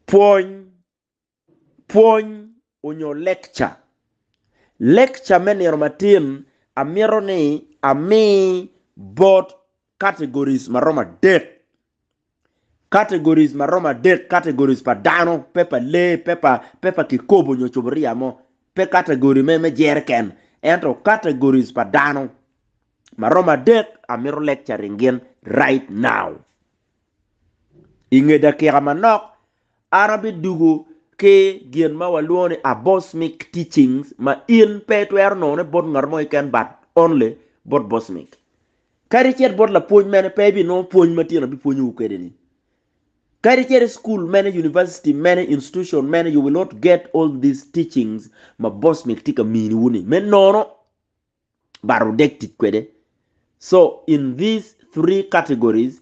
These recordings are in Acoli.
Pwony, pwony onyo lekca. Lekca me nino matin amito ni ami bot categories maromo adek. Categories maromo adek, categories pa dano, pe pa lee, pe pa, pe pa kikopo onyo cuburia mo, pe category me, me jereken, ento categories pa dano maromo adek amito lecturing gin right now. I nge dakika manok, an abidugo ki gin ma walwongo ni abosmic teachings ma in pe itwero nonone bot ngat mo keken but only bot bosmic. Kadi cit bot lapwony mene pe ibinongo pwony ma tyen abipwonyowu kwede ni. Kadi cit i school mene, university mene, institution mene, you will not get all these teachings ma bosmic tye ka miniwu ni me nono. but odek tic kwede. So in these three categories,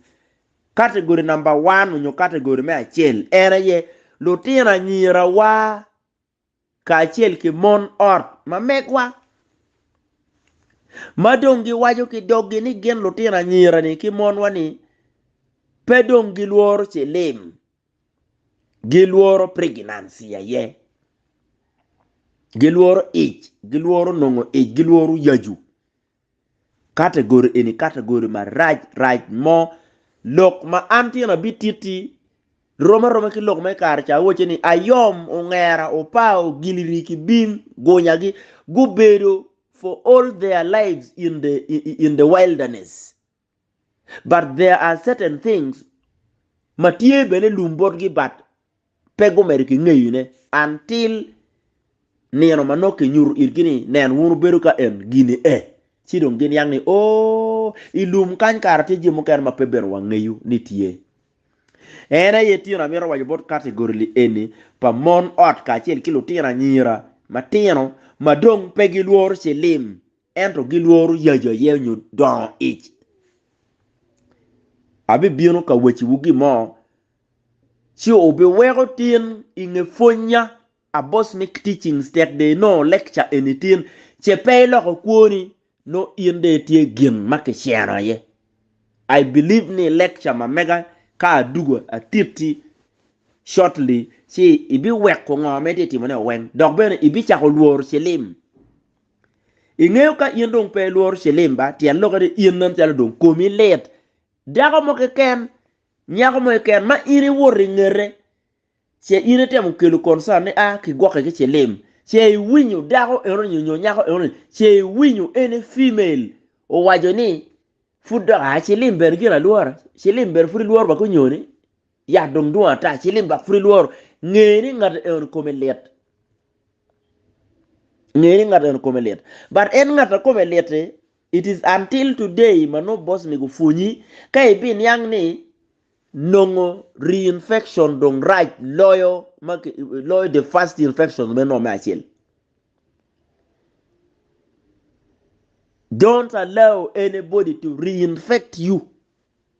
category number one onyo category me acel en aye lutino anyira wa kacel ki mon ot ma megwa ma dong gi waco ki dog gi ni gin lutino anyira ni ki mon wa ni pe dong gi lworo cilim Gilworo pregnancy aye. Gilworo ic, gilworo nongo ic, gilworo yacu. Category eni category marac rac mo. Lok ma an tyena abititti rom aroma ki lok me kare ca awacce ni ayom, ongera, opa, ogiliri ki bim, gunyagi gubedo for all their lives in the in the wilderness. but there are certain things ma tye bene lum botgi but pe gumedo ki ngeyo ne until nino ma nongo ki nyuto itgi ni nen wun wubedo ka en gini e ci dong gin yang ni ooh i lum kany kara tye jami mukene ma pe bene wangeyo ni tye. En aye tyeno amito waco bot category li eni pa mon ot kacel ki lutino anyira matino ma dong pe gilworo cilim ento gilworo yaco aye nyo dongo ic. Abibino ka waciwu gin mo, ci wubiweko tin i nge pwonnya, a boss make teachings tek dong inongo lecture eni tin, ce pe iloko kwoni, nongo in dong itye gin ma kiceno aye. I believe ni lecture ma mega ka adwogo atitti shortly, ci ibiweko ngo ma itye timone-o weng, dok bene ibicako lworo cilim. Ingeyo ka in dong pe ilworo cilim ba, tyen lokke ni in nen calo dong komi lit. Dako mo keken, nyako mo keken ma in iwoto ingete, ce in itemo kelo concern ni ah kigwokke ki cilim, ce iwinyo dako eno-ni nyo nyako eno-ni, ce iwinyo any female owaco ni pud dok ah cilim bene gin alwora, cilim bene pud ilworo ba ki onyo-ni, Yat dong dwong ata, ci lim dok pud ilworo. Nge ni ngat eno kome lit. Nge ni ngat eno kome lit. But en ngat a kome lit-ti, it is until today ma nongo bossni gupwonyi ka ibiniang ni nongo reinfection dong rac loyo loyo the first infections me nongo me acel. Don't allow anybody to reinfect you.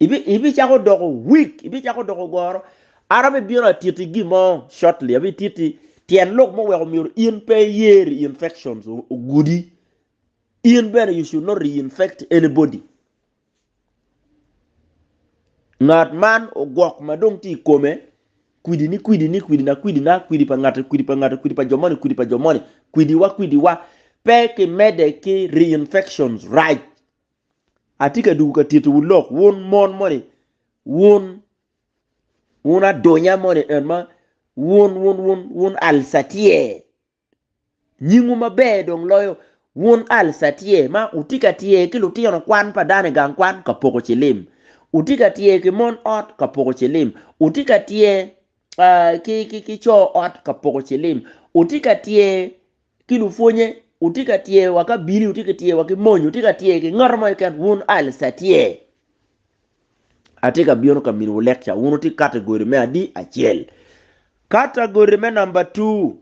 Ibicako doko weak, ibicako doko goro. An abibino atiti gin mo shortly, abititi tyen lok mo weko myero in pe iye reinfections ogudi. In bene you should not reinfect anybody. Ngat man ogwok ma dong tye i kome kwidi ni kwidi ni kwidi na kwidi na kwidi pa ngate kwidi pa ngate kwidi pa jo moni kwidi pa jo moni kwidi wa kwidi wa pe kimede ki reinfections right Atye ka dugo ka tittiwu lok, wun mon moni, wun, wun adunya moni en ma, wun, wun, wun, wun Alsatier. Nyingwu maber dong loyo wun Alsatier ma wutye ka tyer ki lutino kwan pa dano i gang kwan ka poko cilim, wutye ka tyer ki mon ot ka poko cilim, wutye ka tyer ah, ki, ki, ki co ot ka poko cilim, wutye ka tyer ki lupwonye, wutye ka tyer wa ki abili, wutye ka tyer wa ki mony, wutye ka tyer ki ngat mo keken, wun Alice atye. Atye ka bino ka miniwu lekca, wun wutye kato i gode me adi acel. Kata gode me namba tu,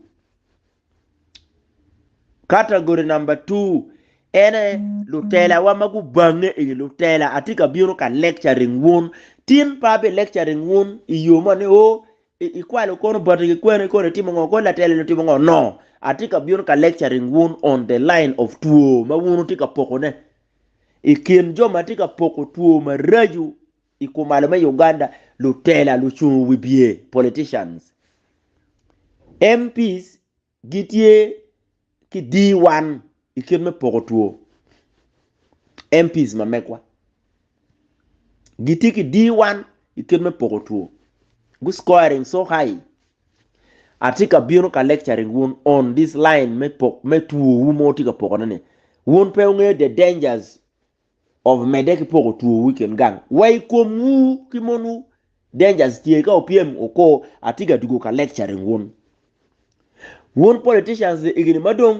kata gode namba tu, ene lutelawa ma gubange i lutela. Atye ka bino ka lecturing wun, tin pe abi lecturing wun i yo mo ni o Ikwalo kono bati ki kwene kono itimo ngo kodi latel eni otimo ngo no atye ka bino ka lecturing wun on the line of two ma wun wutye ka poko ne I kin jo ma tye ka poko two maraco I kumalo me Uganda lutela lucungu wibye politicians MPs Gitye ki D1 i kit me poko two, MPs ma megwa. Gitye ki D1 i kit me poko two. Gu scoring so high. Atye ka bino ka lecturing wun on this line me pok me two wu ma wutye ka pokone ni. Wun pe wungeyo the dangers Omedde ki poko twowu i kin gang wa i komwu ki monwu. Dangers tye ka opyem o ko atye ka tugo ka lecturing wun wun politicians i higni madong.